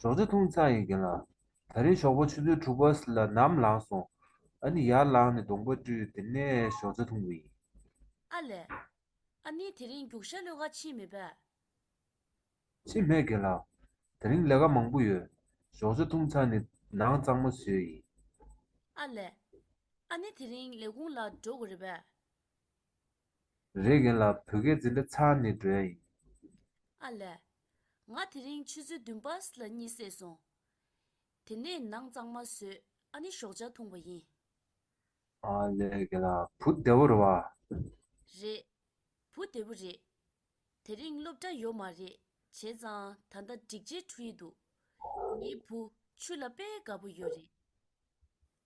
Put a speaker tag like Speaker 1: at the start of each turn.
Speaker 1: ཞོགས་ཟས་འཐུང་ཚར་ཡོད་རྒྱུ་ལ། ད་རེས་ཞོགས་པ་ཆུ་ཚོད་དྲུག་པ་ལ་ནམ་ལངས་སོང། ཨ་ནི་ཡར་ལངས་ནས་གདོང་པ་བཀྲུས་དེ་ནས་ཞོགས་ཟས་འཐུང་གི་ཡིན། ཨ་ལས།
Speaker 2: ཨ་ནི་དེ་རིང་རྒྱུགས་ཞྭ་གློད་ག་ཕྱིན་མེད་པས།
Speaker 1: ཕྱིན་མེད་རྒན་ལགས། དེ་རིང་ལས་ཀ་མང་པོ་ཡོད། ཞོགས་ཟས་འཐུང་ཚར་ནས་ནང་གཙང་མ་བཟོས་ཡིན། ཨ་ལས།
Speaker 2: ཨ་ནི་དེ་རིང་ལས་ཁུངས་ལ་འགྲོ་དགོས་རེད་པས།
Speaker 1: རེ་གན་ལ་བོད་སྐད་འཛིན་གྲྭ་ཚང་ནས་འགྲོ་ཡ་ཡིན། ཨ་ལས།
Speaker 2: ང་དེ་རིང་ཆུ་ཚོད་བདུན་པར་ལ་གཉིད་སད་སོང། དེ་ནས་ནང་གཙང་མ་བཟོས་ཨ་ནི་ཞོགས་ཇག་འཐུང་བ་ཡིན། ཨ་
Speaker 1: ལས་གན་ལ་བུ་བདེ་བོ་རེད་བ། རེད།
Speaker 2: བུ་བདེ་བོ་རེད། དེ་རིང་སློབ་གྲྭ་ཡོད་མ་རེད་བྱས་ཙང་ད་ལྟ་འགྲིག་རྗེས་འཁྲུ་ཡི་འདུག། ངའི་བུ་ཆུ་ལ་དཔེ་དགའ་བོ་ཡོད་རེད།